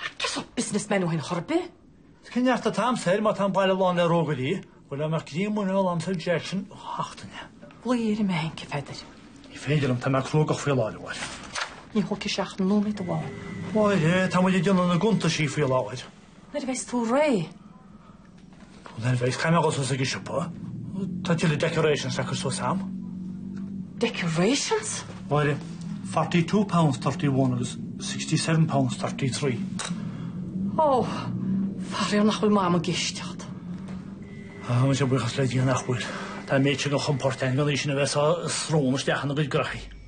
Ach cén sórt business man é sin chor ar bith? Is cén neart atá a'msa air má tá an baile lán le rógairí. Go raibh mé críon muinín iolam sa Jackson ó seachtaine. Glaoigh ar an mbanc, a Pheadair. Ní féidir liom, tá mé cruógach faoi láthair, a Mháire. Ní thógfaidh sé ach nóiméad amháin. Mháire, tá muid ag déanamh na gcuntaisí faoi láthair. Nuair a bheas tú réidh. Well anyways, caithfidh mé a dhul suas ag an siopa. Tá tuilleadh decorations le cur suas a'm. Decorations? Mháire, forty two pounds thirty one agus sixty seven pounds thirty three. Ó, faraor nach bhfuil Mama ag éisteacht leat. Á muise, buíochas le Dia nach bhfuil. Tá an méid sin de chompord a'm gan í sin a bheith ag sá a srón isteach inár gcuid graithí.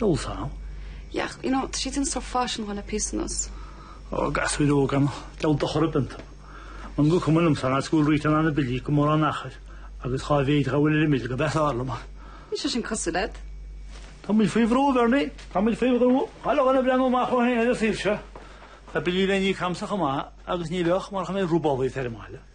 Noel Sal, yeah, you know, tá siad sin sa bhfaisean le píosa anuas. Ó, gasúir óga, diabhal dochar ar bith iontu. Nach cuma liomsa ná cúl Rita ná na billí gan mórán achair agus dhá mhéad dhá bhfuil ar an mbill gurb ea is fearr liom é. Níl sé sin cosúil leat. Tá muid faoi bhrú, Bernie, tá muid faoi bhrú. Caithfidh chuile dhuine breathnú amach dhó féin ar an saol seo. Tá billí le n-íoc a'msa chomh maith agus ní bheadh marach an méid trioblóid ag faire maith leo.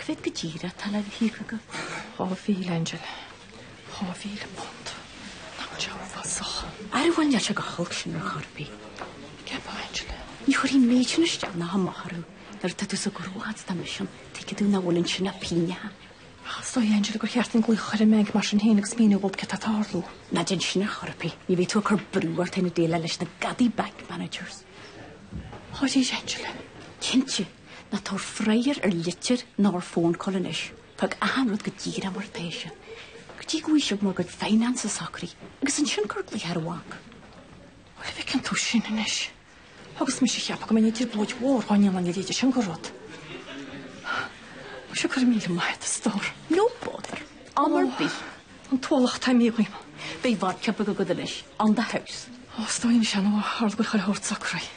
Cé mhéad go díreach atá le híoc agat? Dhá mhíle, Angela. Dhá mhíle punt. Nach é atá uafásach. Ara, níl sé chomh holc sin ar chor ar bith. An gceapfá, Angela? Ní chuirfidh an méid sin isteach ná amach orthu nuair atá tú sa ghnó fhad is atá mise ann, tuigfidh tú nach bhfuil ansin ach pingineacha. Ach is dóigh, Angela, gur cheart dom glaoch a chur ar an mbanc mar sin féin agus míniú dóibh céard atá ag tarlú. Ná déan sin ar chor ar bith. Ní bheidh tú ach ag cur brú ort féin ag déileáil leis na gadaithe bank managers. Dáiríre, Angela? Cinnte. Ná tabhair freagra ar litir ná ar phone call anois. Fág achan rud go díreach mar atá sé. Go dtí go bhfaighidh sibh bhur gcuid finance socraithe agus ansin cuir glaoch ar an bhanc. Bhuel, bhfeiceann tú sin anois. Agus mise ag ceapadh go mbeinn i dtrioblóid mhór dhá ndéanfainn a leithéid sin de rud. Muise, go raibh míle maith agat, a stór. No bother. Am ar bith. An t-ualach atá imithe dhíom. Beidh bhar ceapaire agat anois. On the house. Ó, is dóigh liom sin ó tharla go bhfuil chuile shórt socraithe.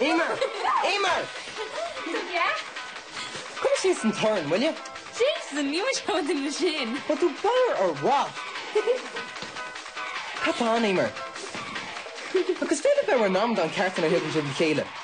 Emer! Emer! Yeah? Cuir síos an torann, will you? Jason, níl muid chomh dinn le sin! Tá tú báire or what? Cad tá ann, Emer? Agus féile bheadh ar an am dá an ceart inar thiogann sibh le chéile.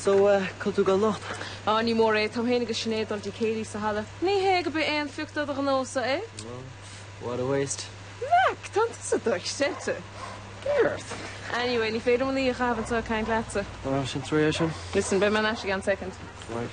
So, cá bhfuil tú ag dul anocht? Á, ní mór é, tá mé féin agus Sinéad ag dul go dtí céilí sa halla. Ní hé gurb aon phioc de do ghnósa é. Ó, what a waste. Mac, tá tusa dochreidte. B'fhearr ort. Anyway, ní féidir liom an oíche a chaitheamh anseo ag caint leatsa. Ó, sin trí é sin. Listen, beidh mé ar ais i gceann soicind. Right.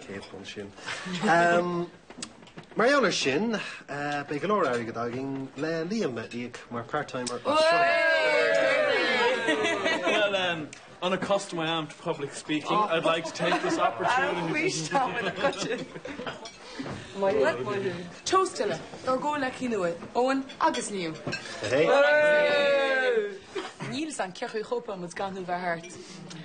Cén chaoi sin? Mar gheall air sin, beidh go leor airgead againn le Liam a íoc mar part-timer as seo amach. Unaccustomed I am to public speaking, I'd like to take this opportunity. Toast eile dár gcomhghleacaithe nua, Eoin agus Liam. Níl a fhios agam cén chaoi a chóipeálfas muid gan thú bheith thart.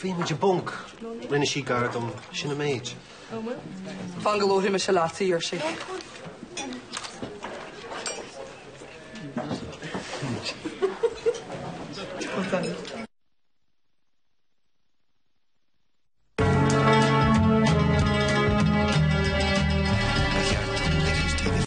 Bhí muid i bponc. Rinne sí gar dom. Sin an méid. Fan go labhraidh mise leat, a deir sí.